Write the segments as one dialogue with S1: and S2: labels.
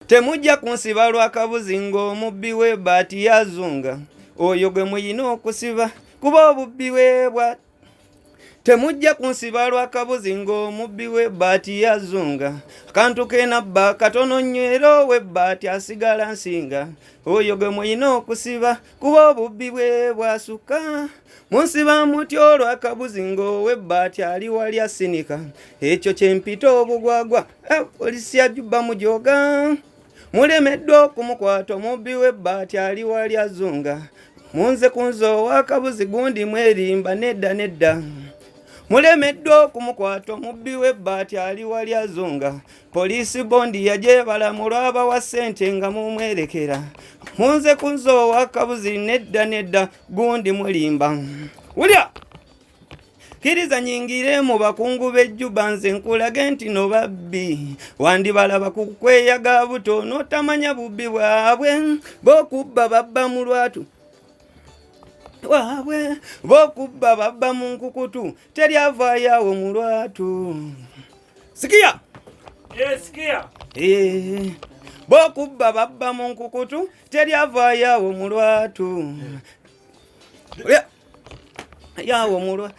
S1: Temujja kunsiba lwa kabuzi ng'omubbi we baati yazunga oyo gwe muyina okusiba kuba obubbi we bwa temujja kunsiba lwa kabuzi ng'omubbi we baati yazunga akantu kenabba katono nnyo era owe baati asigala nsinga oyo gwe muyina okusiba kuba obubbi bwe bwasukka munsi bamutya olwakabuzi ng'owebbaati ali wali asinika ekyo kyempita obugwagwa eh, polisi yajubba mujoga mulemeddwa okumukwata omubbi webbaati ali wali azunga munze kunze owakabuzi gundi mwerimba nedda nedda mulemeddwa okumukwata omubbi webbaati ali wali azunga Poliisi bondi yagyebala mu lwabawa ssente nga mumwerekera munze kunze owakabuzi nedda nedda gundi mulimba wulya kiriza nyingire mu bakungu b'ejjuba nze nkulage nti no babbi wandibalaba ku kweyaga buto n'otamanya bubbi bwabwe bokubba babba mu lwatu waabwe bokubba babba mu nkukutu teri avaayo awo mu lwatu Sikia. Eh,
S2: sikia. Eh.
S1: Bokubba babba mu nkukutu teri avaayo mu lwatu. Yeah. Yawo mu lwatu.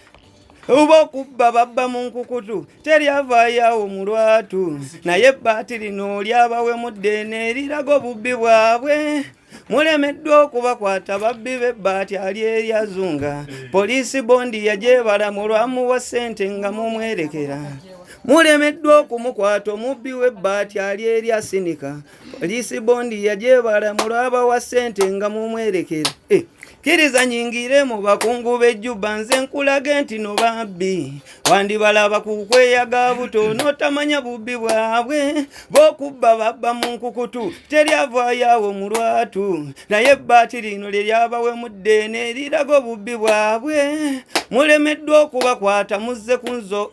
S1: Bokubba babba mu nkukutu teri avaayo awo mu lwatu. Naye ebbaati lino lyabawemudde ne liraga obubbi bwabwe. mulemeddwa okubakwata babbi bebbaati ali eryazunga poliisi bondi yagyebala mu lwamuwa ssente nga mumwerekera mulemeddwa okumukwata omubbi w'ebbaati ali erya sinika poliisi bondi yagyebala mu lwabawa ssente nga mumwerekera eh, kkiriza nyingire mu bakungu b'ejjuba nze nkulage nti no babbi wandibalaba ku kweyaga buto n'otamanya bubbi bwabwe b'okubba babba mu nkukutu teryavaayawo mu lwatu naye ebbaati lino lye lyabawemudde neriraga obubbi bwabwe mulemeddwa okubakwata muzze ku nzo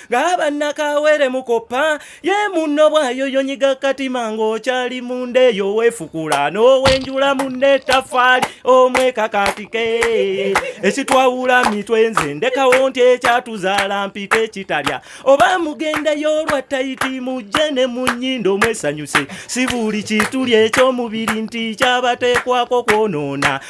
S2: ng'aba nakawere mukoppa ye munno bwayoyonyiga katima ng'okyali munda eyo weefukula n'owenjula munna ettafaali omwekakatike ekitwawula mitwe nze ndekawo nti ekyatuzaala mpita ekitalya oba mugendeyo olwa tayiti mujje ne mu nnyindo mwesanyuse si buli kituli eky'omubiri nti kyabateekwako kwonoona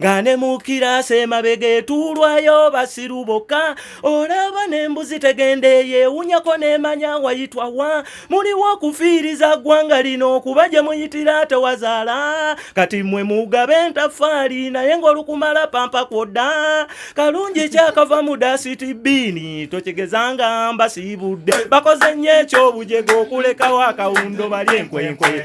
S2: nga ne mu kiraasi emabega etuulwayo basiru bokka olaba n'embuzi tegenda eyo ewunyako n'emanya wayitwa wa muliwo okufiiriza ggwanga lino okuba gye muyitira tewazaala kati mmwe mugabe entafaali naye ng'olukumala pampa kwodda kalungi kyakava mu dasiti bbiini tokigezanga mbasiibudde bakoze nnyo ekyobujega okulekawo akawundo bali enkwenkwe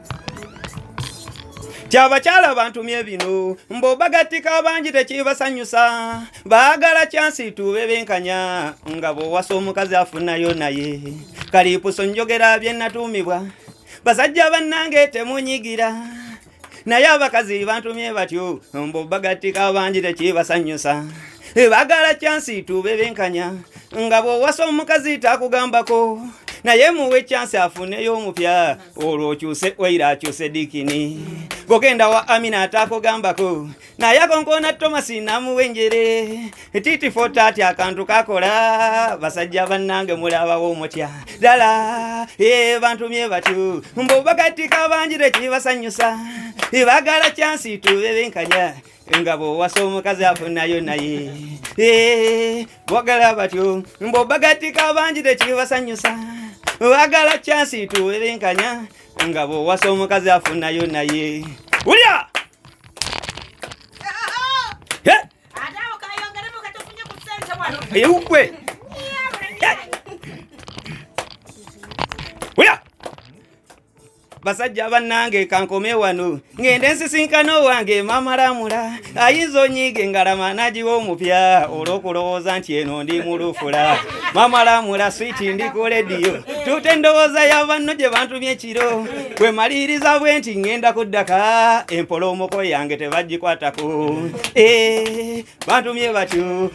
S1: kyabakyala bantumye bino mbobagattika abangi tekibasanyusa baagala kyansi tuube benkanya nga bwowasa omukazi afunayo naye kalipuso njogera byenatuumibwa basajja bannange temunyigira naye abakazi bantumye batyo mbobagattika abangi tekibasanyusa bagala kyansi tuube benkanya nga bwowasa omukazi takugambako naye muwe kyansi afuneyo omupya olwo okyuse oira akyuse dikini bwogenda wa amina atakugambako naye akonkona tomasi namuwa enjere titi fotati akantu kakola basajja bannange mulabawo omutya ddala e bantumye batyo mbu bakatika bangi tekibasanyusa ibagala kyansi tubebenkanya engabo wasa omukazi afunayo naye eh, bogala batyo mbobagatika bangi tekibasanyusa bagala kyansi tuwerenkanya engabo wasa omukazi afunayo naye ulya eukwe eh? basajja bannange kankome wano ngende nsisinkana owange mamalamula ayinza onyiige ngalama nagiwa omupya olwokulowooza nti eno ndi mulufula mamalamula switi ndi ku lediyo tuta endowooza yabanno gye bantumye ekiro kwemaliriza bwe nti ngenda kuddaka empolomoko yange tebagikwatako eh, bantumye batyo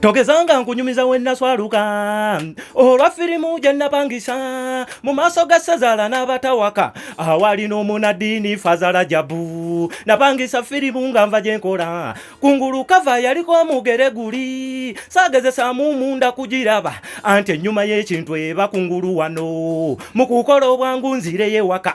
S1: togezanga
S2: nkunyumiza wennaswaluka olwa firimu gye napangisa mu maaso ga ssezaala n'abatawaka awali n'omunaddiini fazala jabu napangisa firimu nga nva gye nkola kungulu kava yaliko omugere guli saagezesaamu munda kugiraba anti ennyuma y'ekintu eba kungulu wano mu kukola obwangu nzireyewaka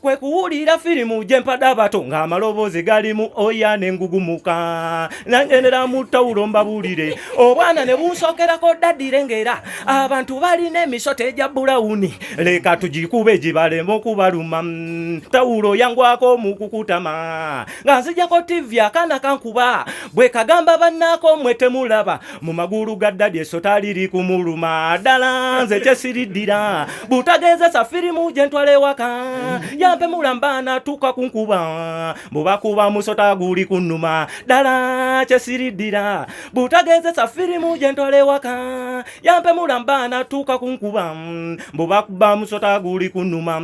S2: kwe kuwulira firimu gye mpada abato ng'amaloboozi galimu oya ne ngugumuka nangendera mu tawulo mbabulire obwana ne bunsokerako ddadire ng'era abantu balina emisota egya bulawuni leka tugikube gibalema okubaluma tawulo yangwako mu kukutama nga nzijako tivi akaana kankuba bwe kagamba bannaako mwe temulaba mu magulu ga dadi esota liri kumuluma ddala nze kyesiriddira butagezesa firimu gye ntwala ewaka yampe mulamba natuuka ku nkuba bubakuba musota guli ku nnuma ddala kyesiriddira butagezesa firimu gye ntwala ewaka yampe mulamba natuuka ku nkuba bubakuba musota guli ku nnuma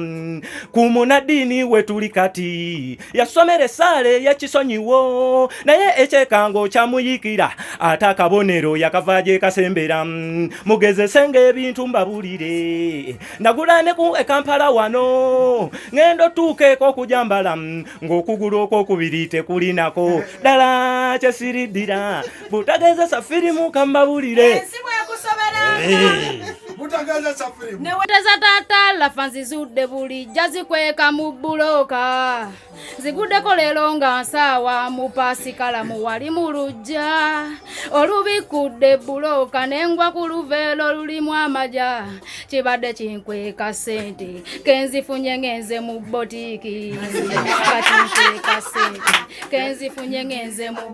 S2: ku munaddiini we tuli kati yasomera esaala eyekisonyiwo naye ekyekango kyamuyikira ate akabonero yakava gyekasembera mm, mugezesenga ebintu mbabulire nagula ne ku ekampala wano ngenda otuuka eko okujambala mm, ng'okugulu okwokubiri tekulinako ddala kyesiriddira butagezesa firimu kambabulire eh,
S3: neweteza tata lafa nzizudde bulijja zikweka mu buloka ziguddeko leero nga nsaawa mu pasikala mu wali mu lujja olubikudde buloka nengwa ku luveelo lulimu amaja kibadde kinkweka sente kenzifunye ngenze mu botiiki kati nkweka sente kenzifunye ngenze mu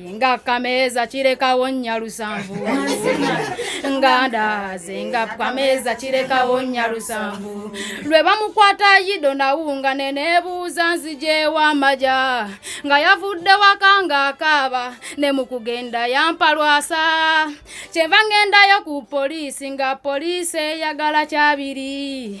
S3: nga kameeza kirekawo nnya lusanvu nga ndaaze nga kameeza kirekawo nnya lusanvu lwe bamukwata yido nawunga ne neebuuza nzijeewo amaja nga yavudde waka nga akaaba ne mu kugenda yampalwasa kyenva ngendayo ku poliisi nga poliisi eyagala kyabiri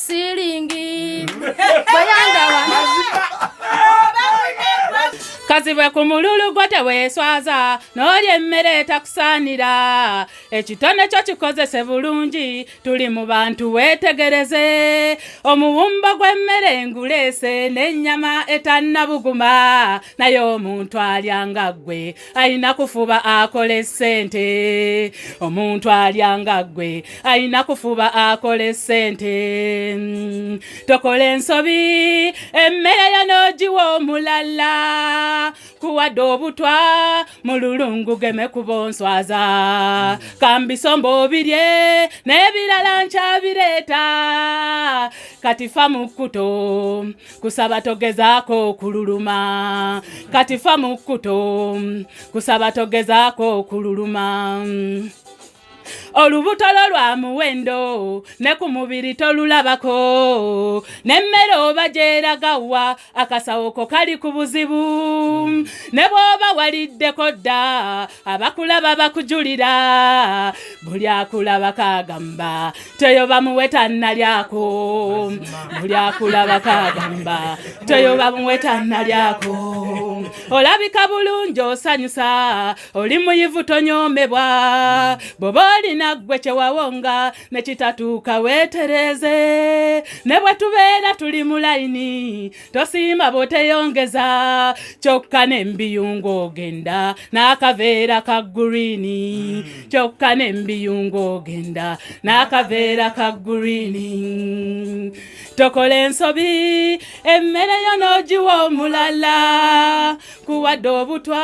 S3: silingi bayandawa kazibwe ku mululu gwo teweeswaza n'olya emmere etakusaanira ekitone kyo kikozese bulungi tuli mu bantu weetegereze omuwumbo gw'emmere enguleese n'ennyama etannabuguma naye omuntu alyanga ggwe alina kufuba akole sente omuntu alya nga ggwe alina kufuba akole sente mm. tokola ensobi emmere yo n'ogiwa omulala kuwadde obutwa mu lulungu geme kubonswaza kambisomba obirye n'ebirala nkyabireeta kati fa mu kkuto kusaba togezaako okululuma kati fa mu kkuto kusaba togezaako okululuma olubuto lwo lwa muwendo ne ku mubiri tolulabako n'emmere oba gyeragawa akasawo ko kali ku buzibu ne bw'oba waliddeko dda abakulaba bakujulira buli akulaba kagamba teyo bamuwe tannalyako buli akulaba kagamba teyo bamuwe tannalyako olabika bulungi osanyusa oli muyivu tonyomebwa bwoba olina ggwe kyewawonga nekitatuuka weetereze ne bwe tubeera tuli mu layini tosiima bwoteyongeza kyokka nembiyungo ogenda n'akaveera ka gurini hmm. kyokka nembiyungo ogenda n'akaveera ka gurini tokola ensobi emmere yo n'ogiwa omulala kuwadde obutwa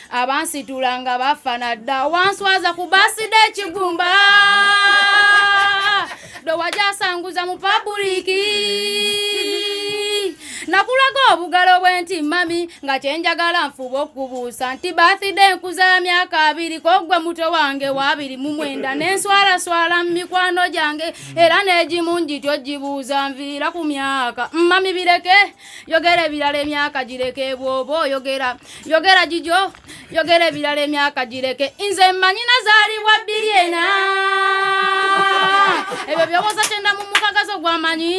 S3: abansitula nga bafana dda wanswaza ku baside ekigumba dowajasanguza mu pabuliki nakulaga obugalo bwenti mami nga kyenjagala nfuba okubuusa nti bathide enkuza ya myaka abiri kogwe muto wange wabiri mumwenda nenswalaswala mu mikwano gyange era negimu ngityo gibuuza nviira ku myaka mami bireke yogera ebirala emyaka gireke bwoba oyogera yogera gijo yogera ebirala emyaka gireke nze mmanyi nazaalibwa bbiri ena ebyo byoboza kyenda mu mukagazo gwamanyi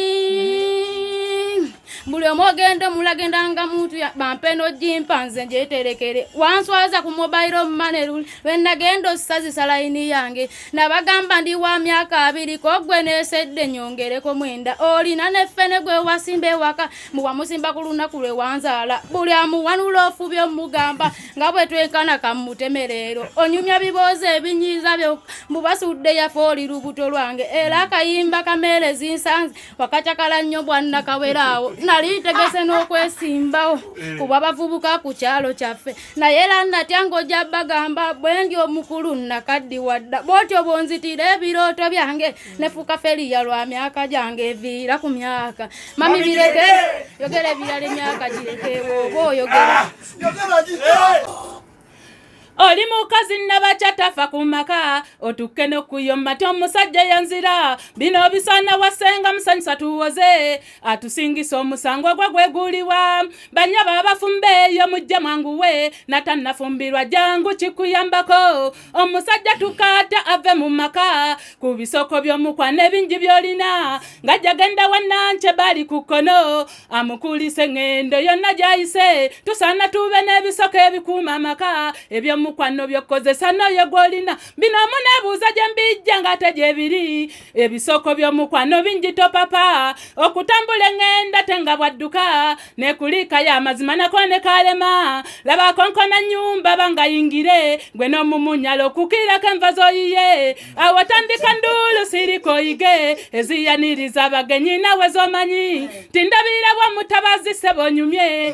S3: buli omu ogenda omulagenda nga muntu bampe nojimpa nze njeterekere wanswaza ku mobile money lwenagenda osazisa layini yange nabagamba ndi wa myaka abiri kogwe nesedde nyongereko mwenda olina nefene gwe wasimba ewaka muwamusimba ku lunaku lwe wanzaala buli amuwanula ofubi omugamba nga bwe twenkana kamutemereero onyumya biboozi ebinyiiza byo mubasudde yafe oli lubuto lwange era akayimba kameere zinsanze wakacakala nnyo bwannakaweraawo nali ntegese n'okwesimbawo kuba bavubuka ku kyalo kyaffe naye era natya ng'ojja bagamba bwe ndi omukulu nnakaddiwa dda bw'otyo bw'onzitira ebirooto byange nefuuka feriya lwa myaka gyange eviira ku myaka mami bireke yogera ebirala emyaka girekeewo oba oyogera oli mukazi nabakyatafa ku maka otukke nokuyomma ti omusajja yanzira bino bisaana wasenga musanyusa tuwoze atusingisa omusango ogwo gweguliwa banya babafumba eyo mujja mwanguwe natannafumbirwa jangu kikuyambako omusajja tukaata ave mu maka ku bisoko by'omukwana ebingi byolina nga jagenda wananke bali ku kkono amukulisa eŋŋendo yonna gyayise tusaana tuube n'ebisoko ebikuuma amaka ebyomukwano byokkozesa n'oyo gwolina bino omuneebuuza gye mbijja ng'ate gye biri ebisoko by'omukwano bingi topapa okutambula eŋŋenda te nga bwadduka nekuliika y'amazima nako ne kaalema laba konkona nnyumba bangayingire gwe n'omumunyala okukiirako enva z'oyiye awo tandika nduulu sirika oyige eziyaniriza abagenyi nawe z'omanyi tindabirira bwa mutabazi sebonyumye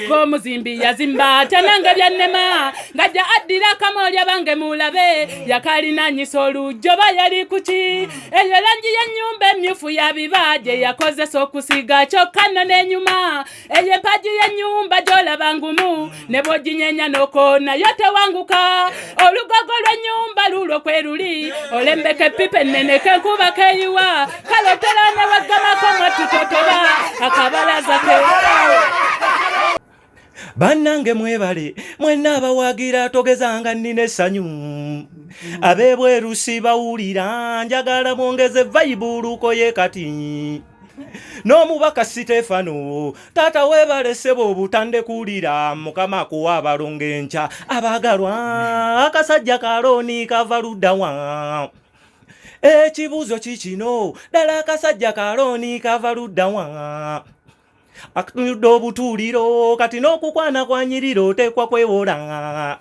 S3: ng'omuzimbi yazimba tanange byannema ngajja addira akamoolya bange mulabe yakalinanyisa olujjo ba yali kuki eyo langi y'ennyumba emmyufu ya biba gye yakozesa okusiga kyokka nno n'enyuma eyo empaji y'ennyumba gy'olaba ngumu ne bw'oginyenya n'oko nayo tewanguka olugogo lw'ennyumba lulwo kwe luli olembeka eppipa ennene kenkuba keyiwa kale teraana baggamako mwattutotoba akabalaza ke
S2: bannange mwebale mwenna abawagira togezanga nnina essanyu abebweru sibawulira njagala mwongeze vayibuluko ye kati n'omubaka siteefano taata webaleseba obutande kuwulira mukama kuwa abalongo enkya abaagalwa akasajja kalooni kava luddawa ekibuuzo kikino ddala akasajja kalooni kava luddawa akatuyudde obutuuliro kati n'okukwana kwanyirira oteekwa kwewola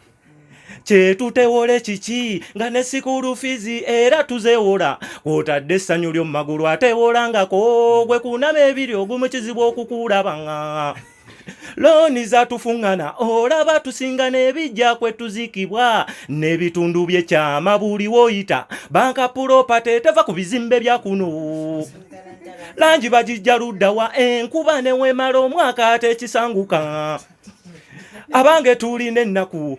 S2: kyetutewole kiki nga ne sikuulu fizi era tuzewola kwotadde essanyu lyo mu magulu atewolangako gwe kunama ebiri ogumu kizibu okukuulabanga looni zatufuŋŋana olaba tusinga n'ebijja kwe tuzikibwa n'ebitundu byekyama buli woyita banka pulopate eteva ku bizimbe bya kuno langi bagijja luddawa enkuba newemala omwaka atekisanguka abange tulina ennaku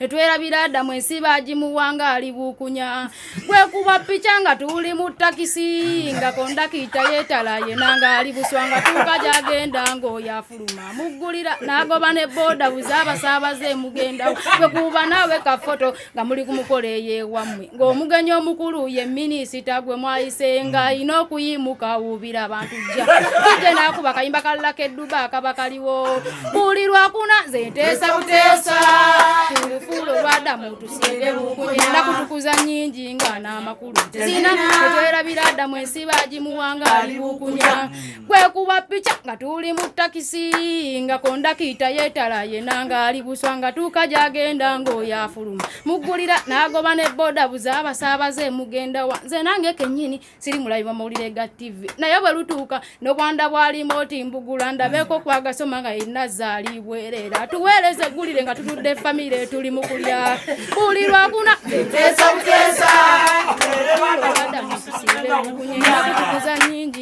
S3: netwerabira adamu ensi bagimuwa ng'ali buukunya gwekuba pica nga tuli mu takisi nga kondakita yetala yena ng'ali buswa nga tuuka gyagenda ng'oyo afuluma muggulira n'agoba ne booda buze abasaabaze emugendawo gwekuba naawe kafoto nga muli ku mukolo eyeewammwe ng'omugenyi omukulu ye minisita gwe mwayisenga alina mm. okuyimuka awuubira abantu jja kijje naakuba kayimba kalulaka edduba akaba kaliwo buli lwakuna nze nteesa buteesa tulufuula olwada mutusiire bukunyenda kutukuza nyingi nga n'amakulu zina etwerabira adamu ensi bagimuwanga ali bukunya kwekuba picha nga tuli mu takisi nga kondakita yetala yena ngaali buswa nga tuuka gyagenda ng'oyo afuluma muggulira n'agoba ne boda buza abasaabaze mugenda wa nze nange kennyini siri mulabiba mawulire ga tivi naye bwe lutuuka n'obwanda bwalimu oti mbugula ndabeeko kwagasoma nga yenna zaaliibwerera tuweereze eggulire nga tutudde famire tuli mu kulya buli lwakuna kuzanyingi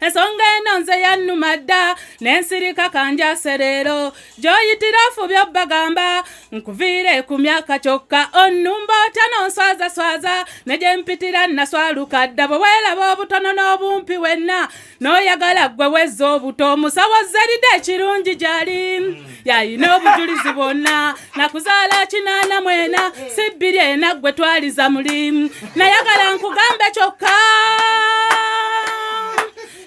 S4: ensonga eno nze yannuma dda n'ensirika kanjase leero gy'oyitira ofubye obbagamba nkuviire ku myaka kyokka onnumba otya nonswazaswaza ne gye mpitira nnaswaluka dda bwe weeraba obutono n'obumpi wenna n'oyagala ggwe wezza obuto omusawo zeride ekirungi gy'ali yayina obujulizi bwonna nakuzaala kinaana mwena si bbiri ena gwe twaliza mulimu nayagala nkugambe kyokka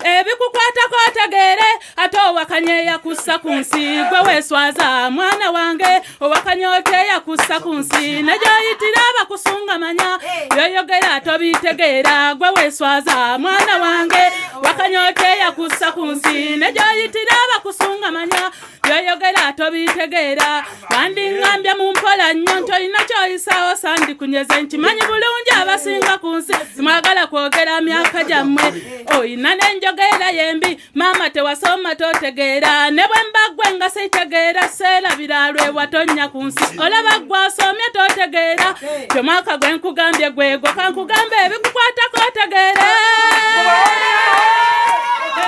S4: ebikukwatako otegeere ate owakanya eyakussa ku nsi gwe weeswaza mwana wange owakanya oti eyakussa ku nsi negyoyitira abakusungamanya byoyogera tobiitegeera gwe weeswaza mwana wange wakanyota eyakussa ku nsi ne gyoyitira abakusungamanya byoyogera tobitegeera wandingambye mu mpola nnyo nti olina kyoyisaawo sandikunyeze nkimanyi bulungi abasinga ku nsi simwagala kwogera myaka gyammwe olina n'enjogeera yembi maama tewasoma totegeera ne bwe mbaggwe nga sitegeera seerabira lwewatonnya ku nsi olaba gwasomye totegeera kyomwaka gwe nkugambye gwego kankugamba ebikukwatako otegeere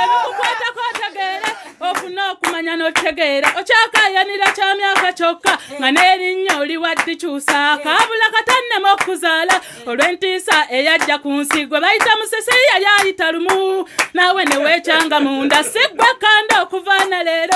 S4: ebikukwatako otegeere ofuna okumanya n'otegeera okyakayanira kya myaka kyokka nga n'erinnya oli waddikyusa kaabula katannema okuzaala olw'entiisa eyajja ku nsi gwe bayita musese yali ayita lumu naawe neweekyanga munda si gwe kanda okuva na leero